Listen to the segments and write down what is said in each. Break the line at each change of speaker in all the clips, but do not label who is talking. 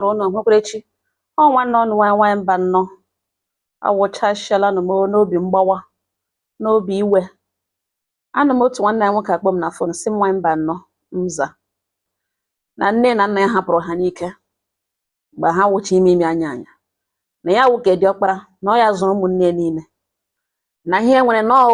chọrọ unu nwekwara echi ọ nwanne ọnụ nwanyị nwanyị Mbanọ awụchasịala nụ m n'obi mgbawa n'obi iwe anụ m otu nwanne anyị nwoke kpọ m na fon sị m nwanyị Mbanọ mza na nne na nna ya hapụrụ ha n'ike mgbe ha wụcha imi imi anya anya na ya wụ ke diọkpara na ọ ya zụrụ ụmụnne ya niile na ya nwere nnọọ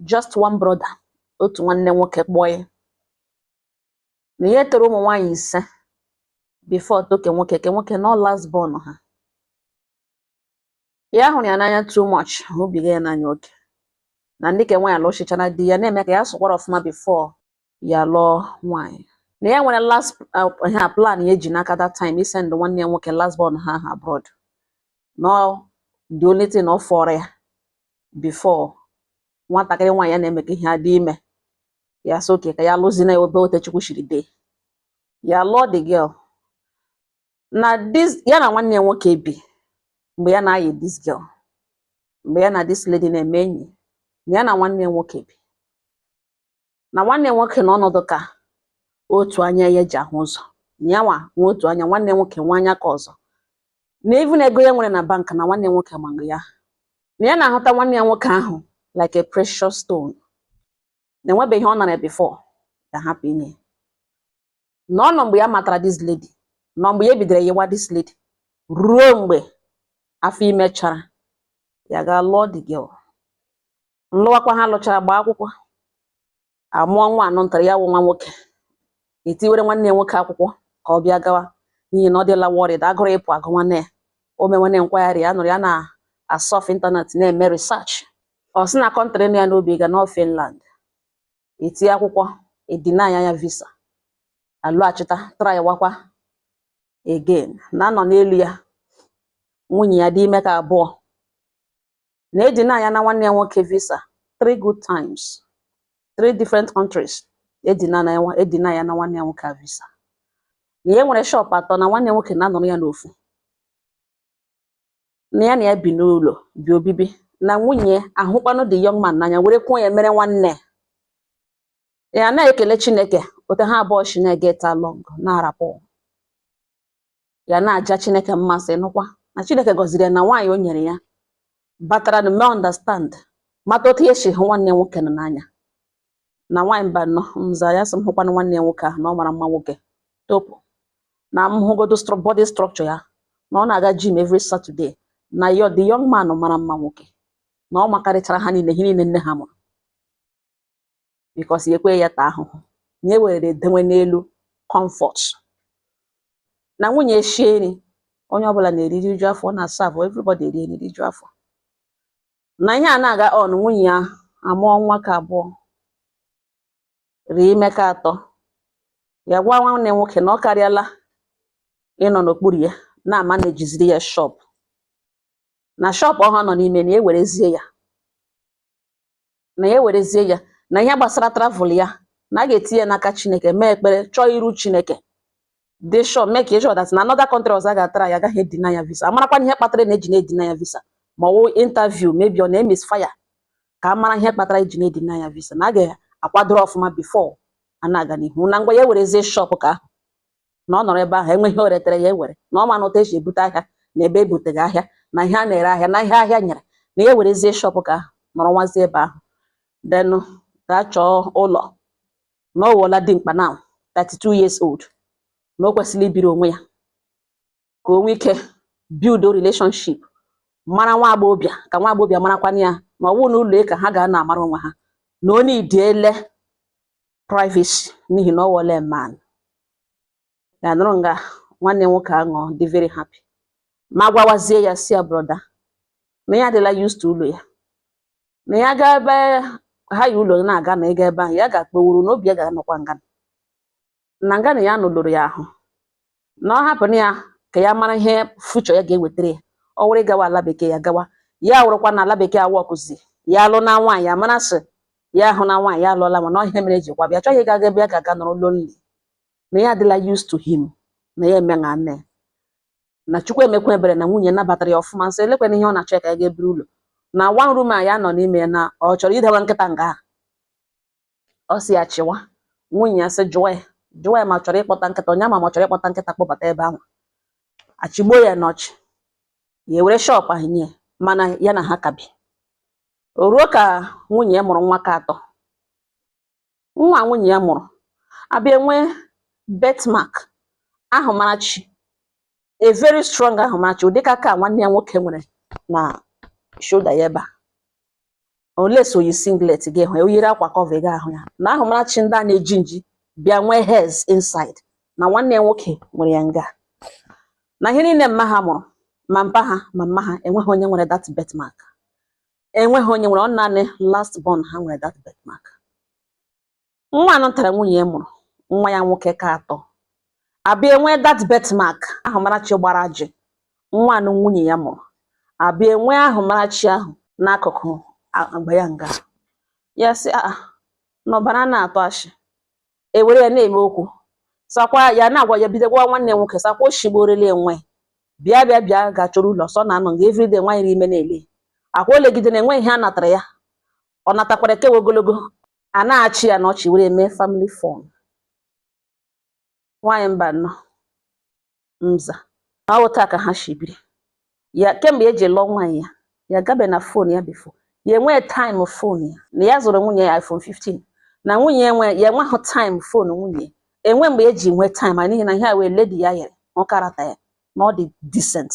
just one brother otu nwanne nwoke kpọọ ya na ya tọrọ ụmụ nwaanyị ise before tọọ ke nwoke ke nwoke nọ last born ha ya hụrụ ya n'anya too much hụbiga ya n'anya oke na ndị ke nwaanyị alụchichara di ya na-eme ka ya sụkwara ọfụma before ya lụọ nwaanyị na ya nwere last uh, ha plan ya ji n'aka that time isend nwanne ya nwoke last born ha ha abroad na the only thing ọ fọrọ ya before nwatakịrị nwaanyị ya na-emekọ ihe adị ime ya sị okay ka ya lụzina ya ebe ọ wụ otu Chukwu shiri dee ya lụọ the girl na this ya na nwanne ya nwoke bi mgbe ya na-ayị this girl mgbe ya na this lady na-eme enyi ya na nwanne ya nwoke bi na nwanne ya nwoke na ọ nọ dị ka otu anya ya ji ahụ ụzọ ya nwa nwe otu anya nwanne ya nwoke nwe anya ke ọzọ na even ego ya nwere na bank na nwanne ya nwoke mago ya na ya na-ahụta nwanne ya nwoke ahụ like a precious stone na enwebe ihe ọ nara before ya hapụ inye na ọ nọ mgbe ya matara this lady nọ mgbe ya bidoro yiwa this lady ruo mgbe afọ ime chara ya ga lụọ the girl nlụwakwa ha lụchara gbaa akwụkwọ amụọ nwa anọ ntara ya wụ nwa nwoke etiwere nwanne ya nwoke akwụkwọ ka ọ bịa gawa n'ihi na ọ dịla worried agụrụ ịpụ agụ nwanne ya o mee nwanne nkwagharị ya nọrọ ya na-asurf internet na-eme research ọ sị na country nọ ya n'obi ịga na ọ Finland eti akwụkwọ edeny ya visa alọghachita trywakwa again na a nọ n'elu ya nwunye ya dị ime ke abụọ na edenyana nwanne ya nwoke visa three good times three different countries edenyana nwanne ya nwoke a visa na ya nwere shop atọ na nwanne ya nwoke na-anọrọ ya n'ofu na ya na ya bi n'ụlọ bi obibi na nwunye ya hụkwanụ the young man n'anya were kwuo ya mere nwanne ya na-ekele Chineke otu ha abụọ shi na-eget along na-arapụ ya na-aja chineke mma sị nụkwa na chineke gọziri ya na nwaanyị o nyere ya batara na mee understand mata otu ya si hụ nwanne ya nwoke nọ n'anya na nwaanyị Mbanọ mza ya sị m hụkwana nwanne ya nwoke ahụ na ọ mara mma nwoke topu na m hụgodo stru- body structure ya na ọ na-aga gym every Saturday na yo the young man mara mma nwoke na ọ makarịchara ha niile ihe niile nne ha mụrụ because ya ekwe ya ta ahụhụ na e were edewe n'elu comfort na nwunye shie nri onye ọbụla na-eri riju afọ ọ na-asavụ everybody eri nri riju afọ na ihe a na-aga on nwunye ya amụọ nwa ka abụọ rie ime ka atọ ya gwa nwanne nwoke na ọ karịala ịnọ n'okpuru ya na-ama na-ejiziri ya shop na shop ahụ ọ nọ n'ime na e werezie ya na ya werezie ya na ihe gbasara travel ya na a ga-etinye n'aka chineke mee ekpere chọọ iru chineke dị sure make sure that na another country ọzọ a ga-atara ya agaghị edeny ya visa a marakwa ihe kpatara na e ji na-edeny ya visa ma ọ wụ interview maybe ọ na-emisfire ka a mara ihe kpatara e ji na-edeny ya visa na a ga-akwadoro ọfụma before a na-aga n'ihu na ngwa ya werezie shop ka ahụ na ọ nọrọ ebe ahụ enweghị o retere ya ewere na ọ ma na otu e si ebute ahịa na ebe ebuteghị ahịa na ihe a na-ere ahịa na ihe ahịa nyere na ya werezie shop ka ahụ nọrọwazie ebe ahụ then gaa chọọ ụlọ na ọ wụọla dimkpa now 32 years old na o kwesịrị ibiri onwe ya ka o nwee ike build relationship mara nwa agbọghọbịa ka nwa agbọghọbịa marakwana ya ma ọ bụrụ na ụlọ ka ha ga na-amara onwe ha na o needile privacy n'ihi na ọ wọle man ya nọrọ nga nwanne nwoke anụ dị very happy ma gwawazie ya sị ya brother na ya adịla used to ụlọ ya na ya gaa ebe ha yi ụlọ na-aga na ịga ebe ahụ ya ga-akpọwuru n'obi ya ga-anọkwa nga na nga na ya nụlụrụ ya ahụ na ọ hapụnụ ya ka ya mara ihe future ya ga-ewetara ya ọ were gawa ala bekee ya gawa ya wụrụkwa na ala bekee awọkụzi ya alụ na nwaanyị ya mara sị ya ahụ na nwaanyị ya alụọla mana ọ ihe mere e jikwa bịa chọghị ịga ebe ya ga-aga nọrọ lonely na ya adịla used to him na ya eme na nne na chukwu emekwa ebere na nwunye nabatara ya ọfụma sị elekwanụ ihe ọ na-achọ ya ka ya ga-eburu ụlọ na one room a ya nọ n'ime ya na ọ chọrọ idewa nkịta nga ahụ ọ sị ya chịwa nwunye ya sị jụọ ya jụọ ya ma ọ chọrọ ịkpọta nkịta onye ama ma ọ chọrọ ịkpọta nkịta kpọbata ebe ahụ achịgbuo ya n'ọchị ya ewere shop ahụ nye mana ya na ha ka bi o ruo ka nwunye ya mụrụ nwa ka atọ nwa nwunye ya mụrụ abịa nwee birthmark ahụmarachi a very strong ahụmarachi ụdịka ka nwanne ya nwoke nwere na shoulder ya ebe a unless o yi singlet gị hụ ya o yiri akwa cover gị ahụ ya na ahụmarachi ndị a na-eji nji bịa nwee hairs inside na nwanne ya nwoke nwere ya nga na ihe niile mma ha mụrụ ma mpa ha ma mma ha enweghị onye nwere that birthmark enweghị onye nwere ọ naanị last born ha nwere that birthmark nwa anọ tara nwunye ya mụrụ nwa ya nwoke ke atọ abịa enwee that birthmark ahụ marachi gbara ajị nwa anọ nwunye ya mụrụ abịa enwee ahụ marachi ahụ n'akụkụ agba ya nga ya sị a ah, ah, n'ọbara anaghị atụ ashị ewere ya na-eme okwu sakwa ya na-agwa ya bido gwa nwanne nwoke sakwa oshigborele enwe bịa bịa bịa ga chọrọ ụlọ sọ na anọ nga everyday nwaanyị n'ime na-ele akwa o legide na enwe ihe a natara ya ọ natakwara ekewe ogologo a na-achị ya na ọchị were mee family fun nwaanyị mba nọ mza na ọ wụ otu a ka ha shi biri ya kemgbe ya ji lụọ nwaanyị a ya gabe na phone ya before ya enwee time phone ya na ya zụrụ nwunye ya iPhone 15 na nwunye ya enweghị time phone nwunye enwe mgbe ya ji nwee time n'ihi na ihe a wụ lady ya yere ọ karata ya na ọ dị decent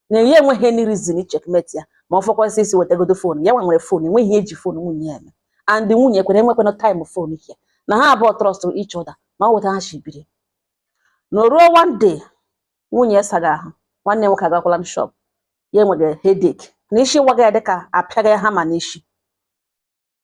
na ya enweghị any reason ịcheckmate ya ma ọ fọkwa ịsị wetagodo phone ya nwa nwere phone enweghị ihe ya ji phone nwunye ya eme and nwunye kwere enwekwana time phone ya na ha abụọ trust each other na ọ wụ otu a ha shi biri na ruo one day nwunye ya saga ahụ nwanne nwoke agakwala m shop ya enwere headache na isi waga ya dịka a pịaga ya hammer n'isi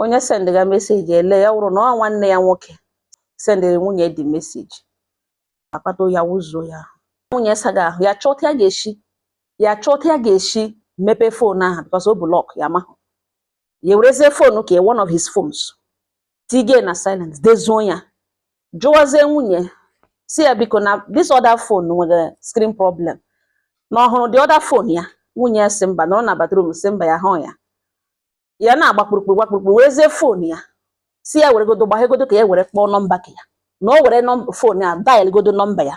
onye sendịga message ele ya wụrụ na ọ nwanne ya nwoke sendịrị nwunye the message akpata oyi wụzuo ya nwunye saga ahụ ya chọọ otu ya ga-esi ya chọọ otu ya ga-eshi mepee phone ahụ because of lock ya mahụ ya werezie phone ke ya one of his phones tiye na silence dezoo ya jụwazie nwunye sị ya biko na this other phone nwere screen problem na ọ hụrụ the other phone ya nwunye ya sị mba nọrọ na bathroom sị mba ya hụ ya ya na-agba kpụrụkpụrụ gba kpụrụkpụrụ werezie phone ya sị ya weregodo gbaghegodo ka ya were kpọọ nọmba ka ya nwa were phone ya dial godo nọmba ya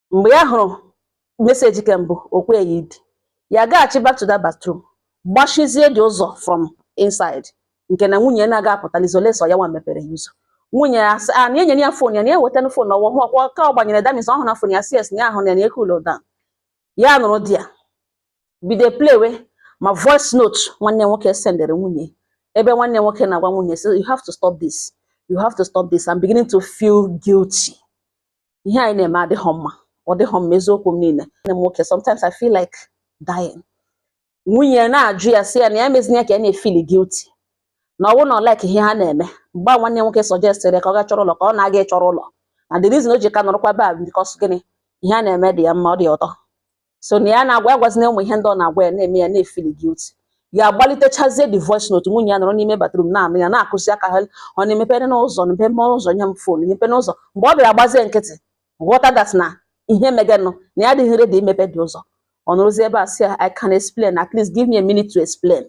mgbe ya hụrụ message ke mbụ o kwe ya idi ya gaghachi back to that bathroom gbachizie the ụzọ from inside nke na nwunye na-aga apụtalizi unless ọ ya nwa mepere ya ụzọ nwunye ya sị a na enyere ya phone ya na ya wetana phone ọ wụ ọkwa ka ọ gbanyere damis ọ hụrụ na phone ya si esi ya ahụ na ya cool down ya nụrụ di ya bido playwe ma voice note nwanne nwoke sendere nwunye ebe nwanne nwoke na-agwa nwunye sị you have to stop this you have to stop this I'm beginning to feel guilty ihe anyị na-eme adịghọ mma ọ dịghọ mma eziokwu m na-ele nwanne m nwoke sometimes I feel like dying nwunye ya na-ajụ ya sị ya na ya mezinye ya ka ya na-efeel guilty na ọ bụrụ na ọ like ihe ha na-eme mgbe a nwanne nwoke suggestịrị ya ka ọ ga chọrọ ụlọ ka ọ na-aga ịchọrọ ụlọ na the reason o ji ka nọrọkwa be a bụ because gịnị ihe a na-eme dị ya mma ọ dị ya ụtọ so na ya na-agwa ya gwazina ụmụ ihe ndị ọ na-agwa ya na-eme ya na-efili guilty ya agbalitechazie the voice note nwunye ya nọrọ n'ime bathroom na-anụ ya na-akụzi aka honey mepere m ụzọ na mepere m ụzọ nye m phone mepe m ụzọ mgbe ọ bịara gbazie nkịtị ghọta that na ihe meganụ na ya adịghị ready imepedị ụzọ ọ nọrọzie ebe a sị ya I can explain at least give me a minute to explain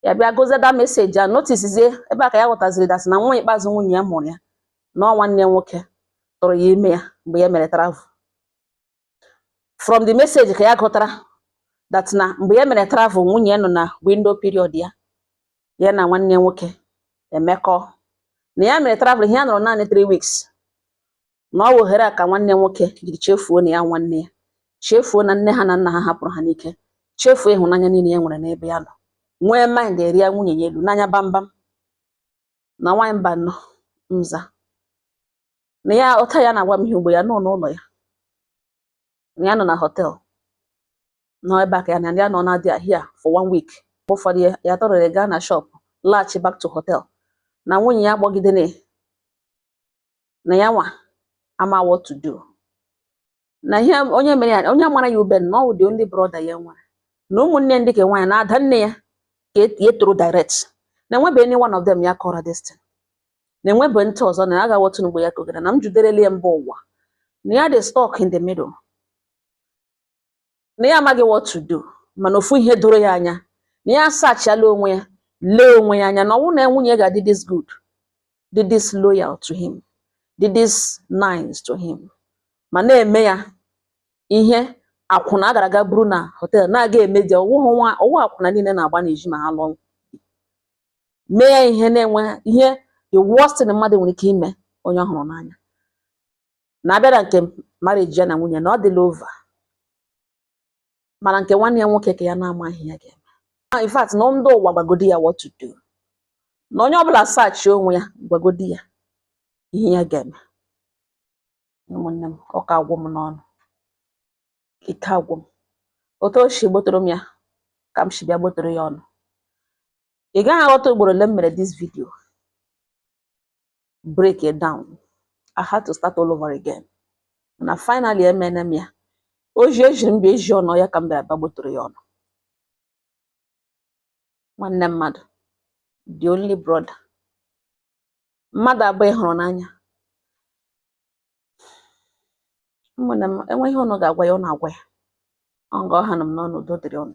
ya bịa gụzie that message ya noticezie ebe a ka ya ghọtaziri that na nwa ikpeazụ nwunye ya mụrụ ya na ọ nwanne nwoke tụrụ ya ime ya mgbe ya mere travel from the message ka ya gụtara that na mgbe ya mere travel nwunye ya nọ na window period ya ya na nwanne nwoke emekọ na ya mere travel ihe ya nọrọ naanị 3 weeks na ọ wụ ohere a ka nwanne nwoke jiri chefuo na ya nwanne ya chefuo na nne ha na nna ha hapụrụ ha n'ike chefuo ịhụnanya niile ya nwere n'ebe ya nọ nwee mind rịa nwunye ya elu n'anya bambam na nwaanyị mba nọ mza na ya ụta ya na-agwa m ihe ugbu a ya nọ n'ụlọ ya na ya nọ na hotel na ọ ebe a ka ya na ya anọna there for one week ụfọdụ ya tọrọrọ gaa na shop laghachi back to hotel na nwunye ya gbọgidere na ya nwa ama what to do na ihe onye mere ya onye mara ya ube na ọ the only brother ya nwere na ụmụnne ndị ke nwaanyị na ada nne ya ka e, e toro direct na enwebe any one of them ya kọrọ this thing na enwebe ntị ọzọ na ya gawa otu mgbe ya kọgara na m juderele ya mba ụwa na ya dị stuck in the middle na ya amaghị what to do mana ofu ihe doro ya anya na ya asearchiala onwe ya lee onwe ya anya na ọ wụ na nwunye ga-adị this good dị this loyal to him dị this nice to him ma na-eme ya ihe akwụna a gara aga buru na hotel na-aga emedi ọ wụghị akwụna niile na-agba n'ezi ma ha lụọ mee ya ihe na-enwe ihe the worst thing mmadụ nwere ike ime onye ọ hụrụ n'anya na a bịa na nke marriage ya na nwunye na ọ dịla over mana nke nwanne ya nwoke ka ya na-amaghị ihe ya ga-eme in fact na ndị ụwa gwagodi ya what to do na onye ọbụla search onwe ya gwagodi ya ihe ya ga-eme ụmụnne m ọka agwụ m n'ọnụ ike agwụ m otu o si gbotoro m ya ka m si bịa gbotoro ya ụnụ ị gaghị aghọta ugboro ole m mere this video break it down I had to start all over again na finally emene m ya ozi e ziri m bịa ezi ụnụ ya ka m bịara bịa gbotoro ya ụnụ nwanne mmadụ the only brother mmadụ abụọ ị hụrụ n'anya ụmụnne m e nwee ihe ụnụ ga-agwa ya ụnụ agwa ya ọ nga ọ hanụ m n'ọnụ udo dịrị ụnụ